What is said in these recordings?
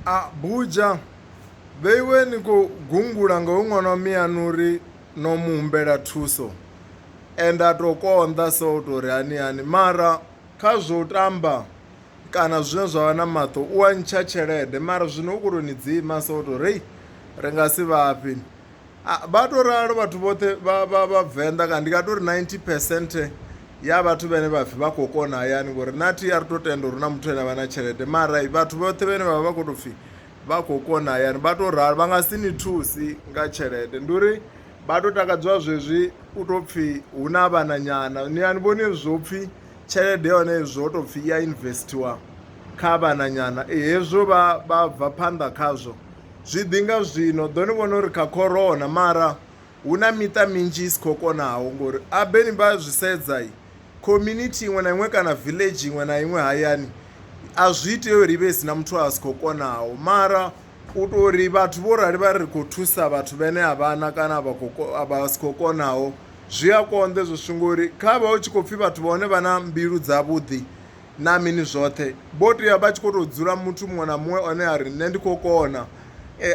A, Buja, vheiwe ni khou gungula nga hoyu ṅwana wa miyaṋu uri no mu humbela thuso. Ende a tou konḓa so u tou ri hani hani mara kha zwo u tamba kana zwine zwa vha na maṱo u a ntsha tshelede mara zwino u khou tou ni dzima so u tou ri ri nga si vhafhi. Vha to ralo vhathu vhoṱhe vha vha vha venḓa kana ndi nga tori 90 percent ya vhathu vhene vha pfhi vha khou kona hayani ngori na thi a ri to tenda uri na muthu ane avha na tshelede mara vhathu vhoṱhe vhene vha vha vha khou to pfhi vha khou kona hayani vha to ralo vha nga si ni thusi nga tshelede ndi uri vha to takadziwa zwezwi u to pfhi hu na vhana nyana ni ani vhoni zwo pfhi tshelede ya hone zwo tou pfhi i ya investiwa kha vhananyana e, hezwo vha vha bva phanḓa khazwo zwi ḓi nga zwino ḓo ni vhona uri kha corona mara hu na miṱa minzhi i si khou konaho ngori abeni vha zwi sedza i community iṅwe na iṅwe kana village iṅwe na iṅwe hayani a zwi itea uri i vhe i si na muthu a si khou konaho mara U tou uri vhathu vho rali vha ri khou thusa vhathu vhene a vhana kana vha khou vha si khou konaho zwi a konḓa ezwo zwithu ngori kha vha hu tshi khou pfhi vhathu vha hone vha na mbilu dza vhuḓi na mini zwoṱhe vho tea vha tshi kho to dzula muthu muṅwe na muṅwe one a ri nṋe ndi khou kona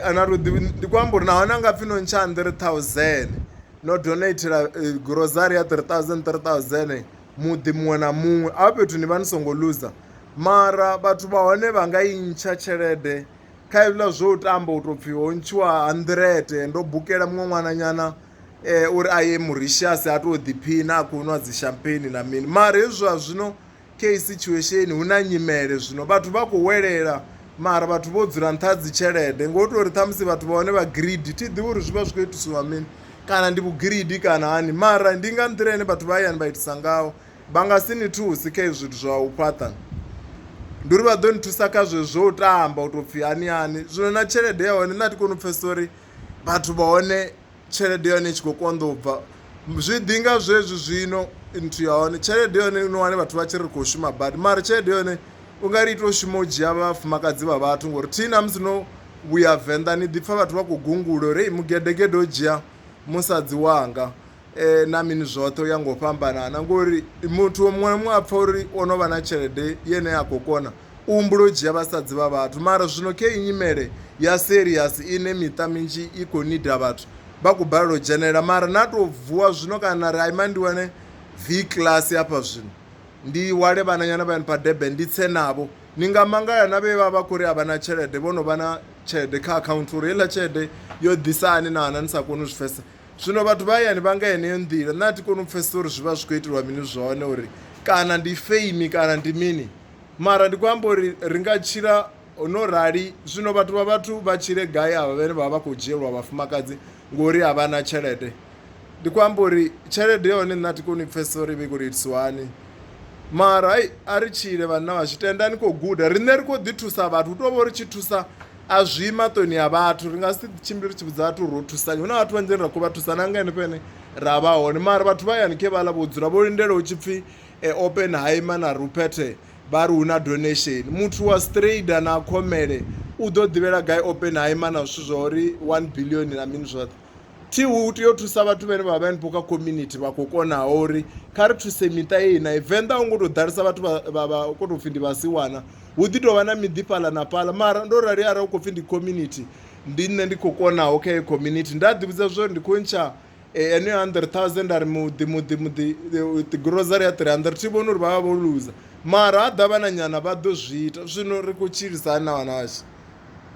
ana to ḓi ndi khou amba uri nahone a nga pfhi no ntsha hanḓirete ṱhauzeni no donathela gurozari ya three thousand three thousand. muḓi muṅwe na muṅwe hafha fhethu ni vha ni songo luza mara vhathu vha hone vha nga i ntsha tshelede kha hezwiḽa zwo tamba u tou pfhi ho ntshiwa hanḓirete ndo bukela muṅwe ṅwananyana um uri a ye moritius a tou ḓiphina a khou nwa dzi champagne na mini mara hezwi zwa zwino kha heyi situation hu na nyimele zwino vhathu vha khou welela. mara vhathu vho dzula nṱha dzi tshelede ngo tou uri ṱhamusi vhathu vha hone vha greedy thi ḓivhi uri zwi vha zwi khou itisiwa mini kana ndi vhugiridi kana hani mara ndi nga nḓila ine vhathu vha hayani vha itisa ngaho vha nga si ni thusi kha zwithu zwa u fhaṱa ndi uri vha ḓo ni thusa kha zwe zwo tamba u tou pfhi hani hani zwino na tshelede ya hone nṋe a thi koni u pfhesesa uri vhathu vha hone tshelede ya hone i tshi khou konḓa u bva zwi ḓi nga zwezwi zwino nthu ya hone tshelede ya hone no wane vhathu vha tshi ri khou shuma badi mara tshelede ya hone u nga ri ita u shuma u dzhia vhafumakadzi vha vhathu ngori thi na musi no vhuya venḓa ni ḓi pfha vhathu vha khou gungula uri mu gedegede o dzhia musadzi wanga na mini zwoṱhe u ya nga u fhambanana ngori muthu muṅwe na muṅwe a pfha uri o no vha na tshelede ine a khou kona u humbula u dzhia vhasadzi vha vhathu. Mara zwino khe iyi nyimele ya serious ine miṱa minzhi i khou nida vhathu vha khou balelwa u dzhenelela mara na tou vuwa zwino kana na ri a ima ndi wane V class hafha zwino ndi wale vhananyana vha pa Durban ndi tse navho ni nga mangala na vhe vha vha khou ri a vha na tshelede vho no vha na tshelede kha akhaunthu uri heiḽa tshelede yo ḓisa hani na hana ni sa koni u zwi pfhesa zwino vhathu vha hayani vha nga heneyo nḓila nṋe a thi koni u pfhesesa uri zwi vha zwi khou itelwa mini zwone uri kana ndi feimi kana ndi mini Mara ndi khou amba uri ri nga tshila no rali zwino vhathu vha vhathu vha tshile gai avha vhane vha vha khou dzhielwa vhafumakadzi ngori a vha na tshelede ndi khou amba uri tshelede ya hone nṋe a thi koni u pfhesesa uri i vha i khou tou itiswa hani mara hai a ri tshile vhanna vhashu tenda ni khou guda riṋe ri khou ḓi thusa vhathu hu tou vha uri tshi thusa a zwi maṱoni ya vhathu ri nga si tshimbile ri tshi vhudza vhathu ro thusani hu na vhathu vhanzhini ra khou vha thusa na nga henefho ene ra vha hone mara vhathu vha yani khe vhaḽa vho dzula vho lindela hu tshi pfhi Oppenheimer na Ruppert vha ri hu na donation. Muthu wa Strader na Commelle u ḓo ḓivhela gai Oppenheimer na zwithu zwa uri 1 billion na mini zwoṱhe? Thi hu tea u thusa vhathu vhane vha vha henefho kha community vha khou konaho uri kha ri thuse miṱa yeyi na Venḓa hu ngo tou ḓalesa vhathu vha vha khou tou pfhi ndi vhasiwana hu ḓi tovha na miḓi fhaḽa na fhaḽa mara ndo rali arali u khou pfhi ndi community ndi nṋe ndi khou konaho kha heyi community nda ḓivhudza zwa uri ndi khou ntsha Eneo hundred thousand ari muḓi muḓi muḓi eh, grocery ya 300 thi vhona uri vha vha vho luza mara ha ḓa vhananyana vha ḓo zwi ita zwino ri khou tshilisani na vhana vhashu